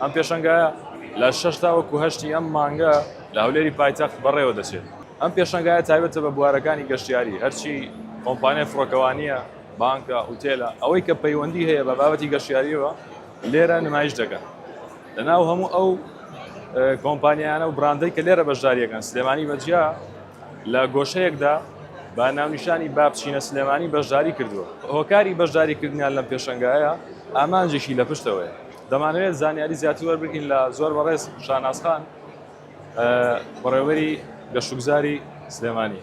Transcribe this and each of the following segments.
ئەم پێشەنگایە لە شەش تا وەکو هەشتی ئەم مانگە لە هەولێری پایتەخت بەڕێوە دەچێت. ئەم پێشەنگایە تایبەتە بە بوارەکانی گەشتیاری، هەرچی کۆمپانیای فڕۆکەوانییە، بانکە، ئوتێلە، ئەوەی کە پەیوەندی هەیە بە بابەتی گەشتیارییەوە لێرە نمایش دەکەن. لە ناو هەموو ئەو کۆمپانیایانە و براندەی کە لێرە بەشدارییەکەن، سلێمانی بە جیا لە گۆشەیەکدا بە ناونیشانی با بچینە سلێمانی بەشداری کردووە. هۆکاری بەشداریکردنیان لەم پێشەنگایە ئامانجێکی لە پشتەوەیە. دەمانەوێت زانیاری زیاتر وەربگرین لە زۆر بەڕێز شانازخان بەڕێوەری گەشتوگوزاری سلێمانی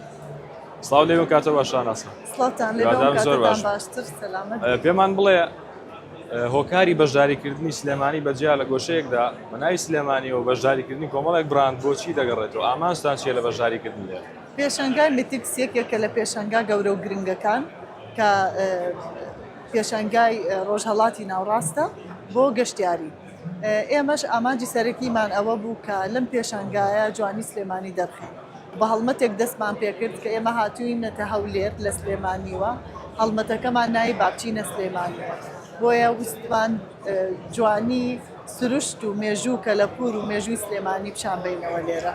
سلااو لێ کاتە بە شانازخان زۆر باشتر پێمان بڵێ هۆکاری بەشداریکردنی سلێمانی بەجیا لە گۆشەیەکدا بەناوی سلێمانی و بەشداریکردنی کۆمەڵێک براند بۆچی دەگەڕێتەوە ئامانستان چیە لە بەشداریکردن لێ پێشنگای میتیکسیەکێکە لە پێشنگا گەورە و گرنگەکان کە پێشەنگای ڕۆژهەڵاتی ناوڕاستە بۆ گەشتیاری، ئێمەش ئامانجی سەرەکیمان ئەوە بوو کە لەم پێشەنگایە جوانی سلێمانی دەرخەین، بە هەڵمەتێک دەستمان پێکرد کە ئێمە هاتووینەتە هەولێر لە سلێمانیوە، هەڵمەتەکەمان ناوی بابچینە سلێمانییە، بۆیە ویستمان جوانی سروشت و مێژوو کەلەپوور و مێژووی سلێمانی پیشان بەینەوە لێرە.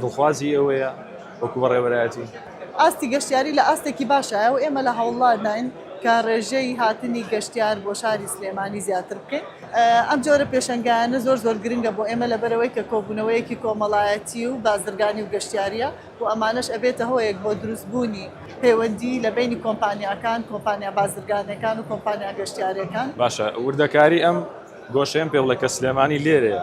دڵخوازی ئێوەیە وەکو بەڕێوەبەرایەتی؟ ئاستی گەشتیاری لە ئاستێکی باشایە و ئێمە لە هەوڵداین کە ڕێژەی هاتنی گەشتیار بۆ شاری سلێمانی زیاتر بکەین. ئەم جۆرە پێشەنگایانە زۆر زۆر گرنگە بۆ ئێمە لەبەرئەوەی کە کۆبوونەوەیەکی کۆمەڵایەتی و بازرگانی و گەشتیارییە و ئەمانەش ئەبێتە هۆیەک بۆ دروستبوونی پەیوەندی لە بەینی کۆمپانیاکان، کۆمپانیا بازرگانییەکان و کۆمپانیا گەشتیارییەکان. باشە وردەکاری ئەم گۆشەیەم پێ بڵێ کە سلێمانی لێرەیە؟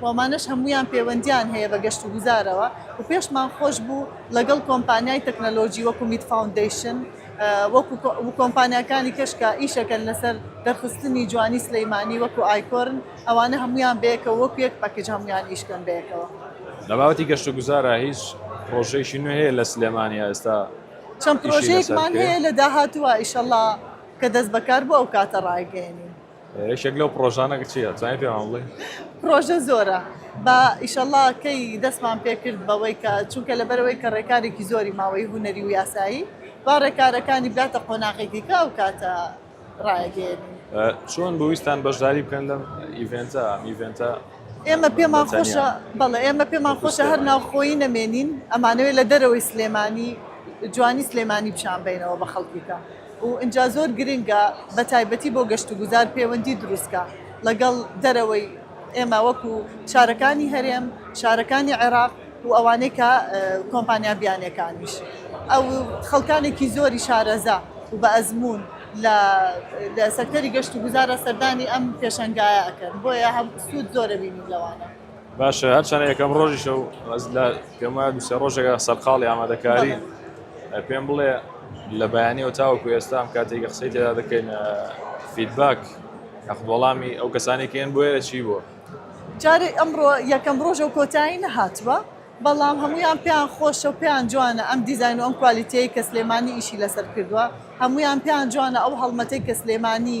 و ئەمانەش هەموویان پێوەندییان هەیە بە گەشتوگوزارەوە و پێشمان خۆش بوو لەگەڵ کۆمپانیای تەکنەلۆجی وەکو میت فاوندەیشن و کۆمپانیاکانی کەش کە ئیشەکەن لەسەر دەرخستنی جوانی سلیمانی وەکو ئایکۆرن ئەوانە هەموویان بەیەکەوە وەکو یەک پەکیج هەموویان ئیش بکەن بەیەکەوە. لە بابەتی گەشتوگوزارا هیچ پڕۆژەیەکی نوێ هەیە لە سلێمانی ئێستا ئیشی لەسەر بکرێ؟ چەند پڕۆژەیەکمان هەیە لە داهاتووا ئیشەڵا کە دەست بەکار بوو ئەو کاتە ڕایگەیەنین. یەکێک لەو پرۆژانە چیە توانای پێمان بڵێ پرۆژە زۆرە بە ئیشەڵا کەی دەستمان پێکرد بەوەی کە چونکە لەبەرەوەی کە ڕێکارێکی زۆری ماوەی هوەری و یاسایی با ڕێکارەکانی باتە قۆناغێکی کە ئەو کاتە ڕایگەێن چۆن بویستان بەشداری بکەن لەم ئیڤنتە ئیڤنتە ئێمە پێمان خۆشە بەڵێ ئێمە پێمان خۆشە هەر ناوخۆی نەمێنین ئەمانەوەی لە دەرەوەی سلێمانی جوانی سلێمانی پیشان بینەوە بە خەڵکیکە و ئینجا زۆر گرنگە بە تایبەتی بۆ گەشت و گوزار پێوەندی دروستکە ڵەگەڵ دەرەوەی ئێمە وەکو شارەکانی هەرێم، شارەکانی عێراق و ئەوانەی کە کۆمپانیا بیانیەکانیش ئەو خەڵکانێکی زۆری شارەزا و بە ئەزموون لە لە سەکتەری گەشت و گوزارە سەردانی ئەم پێشەنگایە ئەکەن بۆیە هەم سوود زۆرە بینیم لەوانە. باشە هەرچەنە یەکەم ڕۆژیشە و ئەز لە گەمە دوسێ ڕۆژێکە سەرقاڵی ئامادەکاری پێم بڵێ لە بەیانەوە تاوەکو ئێستا ئەم کاتێکە قسەی تێدا دەکەین فیدباک ئەخبۆڵامی ئەو کەسانێکیان بۆیە چی بووە جارێ ئەمڕۆ یەکەم ڕۆژە و کۆتایی نەهاتوە بەڵام هەمویان پێیان خۆشە و پێیان جوانە ئەم دیزین و ئەم کوالیتەیە کە سلێمانی ئیشی لەسەر کردووە هەمویان پێیان جوانە ئەو هەڵمەتەی کە سلێمانی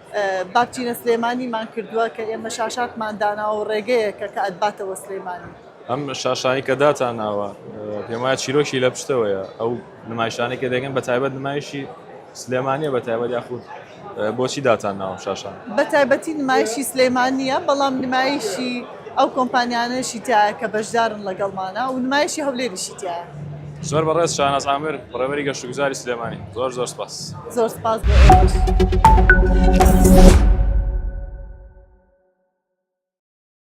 باپجینە سلێمانی مان کردووە کە ئێمە شاشاتمان داناوە ڕێگەیەکە کە ئەتباتەوە سلێمانی. ئەم شاشانەی کە داتانناوە پێم وایە چیرۆکی لە پشتەوەیە ئەو نمایشانەی کە دەگەن بە تایبەت نمایشی سلێمانیە بە تایبەت یاخود بۆچی داتان ناوم شاشان بە تایبەتی نمایشی سلێمانە بەڵام نمایشی ئەو کۆمپانیانەشی تیایە کە بەشدارن ڵەگەڵمانە و نمایشی هەولێریشی تیایە. زۆر بەڕێز شاناز عامر بەڕێوەبەری گەشتوگوزاری سلێمانی زۆر زۆر سپاس. زۆر سپاس بۆ ئێوەش.